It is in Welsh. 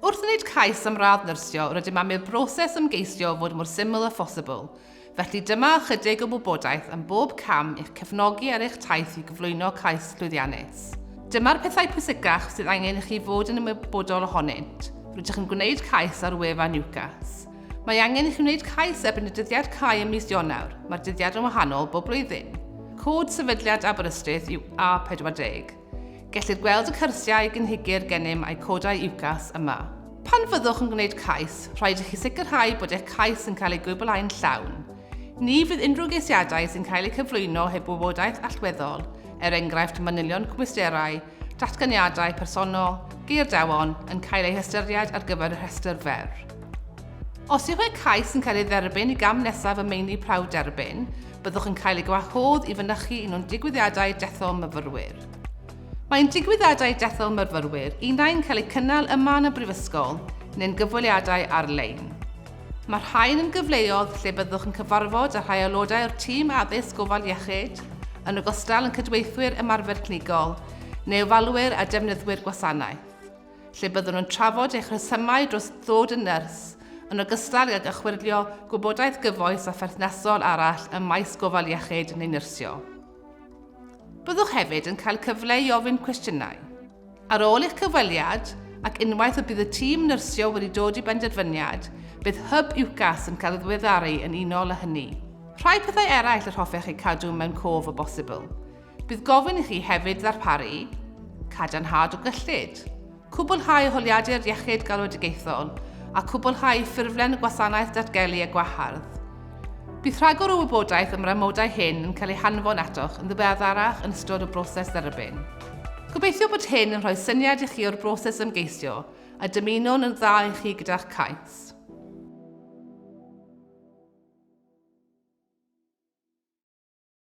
Wrth wneud cais am radd nyrsio, rydym am i'r broses ymgeisio fod mor syml â phosibl, felly dyma ychydig o wybodaeth am bob cam i'ch cefnogi ar eich taith i gyflwyno cais llwyddiannus. Dyma'r pethau pwysicach sydd angen i chi fod yn ymwybodol ohonynt, rydych yn gwneud cais ar wefan UCAS. Mae angen i chi wneud cais erbyn y dyddiad cau ym mis Ionawr. Mae'r dyddiad yn wahanol bob blwyddyn. Cod Sefydliad Aberystwyth yw A40. Gellir gweld y cyrsiau, gynhigir gennym a'i codau UCAS yma. Pan fyddwch yn gwneud cais, rhaid i chi sicrhau bod eich cais yn cael ei gwblhau'n llawn. Ni fydd unrhyw geisiadau sy'n cael eu cyflwyno heb wybodaeth allweddol, er enghraifft manylion cwmisterau, Datganiadau personol, geirdeddon, yn cael eu hystyried ar gyfer y rhestr fer. Os yw eich cais yn cael ei dderbyn i gam nesaf y meini prawf derbyn, byddwch yn cael ei gwahodd i fynychu un o'n digwyddiadau dethol myfyrwyr. Mae ein digwyddiadau dethol myfyrwyr unai'n cael eu cynnal yma yn y Brifysgol neu'n gyfweliadau ar-lein. Mae'r rhain yn gyfleodd lle byddwch yn cyfarfod â rhai aelodau o'r tîm addysg gofal iechyd, yn ogystal yn cydweithwyr ymarfer clinigol, neu ofalwyr a defnyddwyr gwasanaeth, lle byddwn yn trafod eich rhesymau dros ddod yn nyrs, yn ogystal ag ychwyrlio gwybodaeth gyfoes a pherthnasol arall ym maes gofal iechyd neu nyrsio. Byddwch hefyd yn cael cyfle i ofyn cwestiynau. Ar ôl eich cyfweliad, ac unwaith y bydd y tîm nyrsio wedi dod i benderfyniad, bydd Hyb UCAS yn cael ei ddiweddaru yn unol â hynny. Rhai pethau eraill yr hoffech eu cadw mewn cof o bosibl. Bydd gofyn i chi hefyd ddarparu cadarnhad o gyllid, cwblhau holiadur iechyd galwedigaethol a chwblhau ffurflen y gwasanaeth datgelu a gwahardd. Bydd rhagor o wybodaeth am yr amodau hyn yn cael ei hanfon atoch yn ddiweddarach yn ystod y broses dderbyn. Gobeithio bod hyn yn rhoi syniad i chi o'r broses ymgeisio a dymunwn yn dda i chi gyda'ch cais.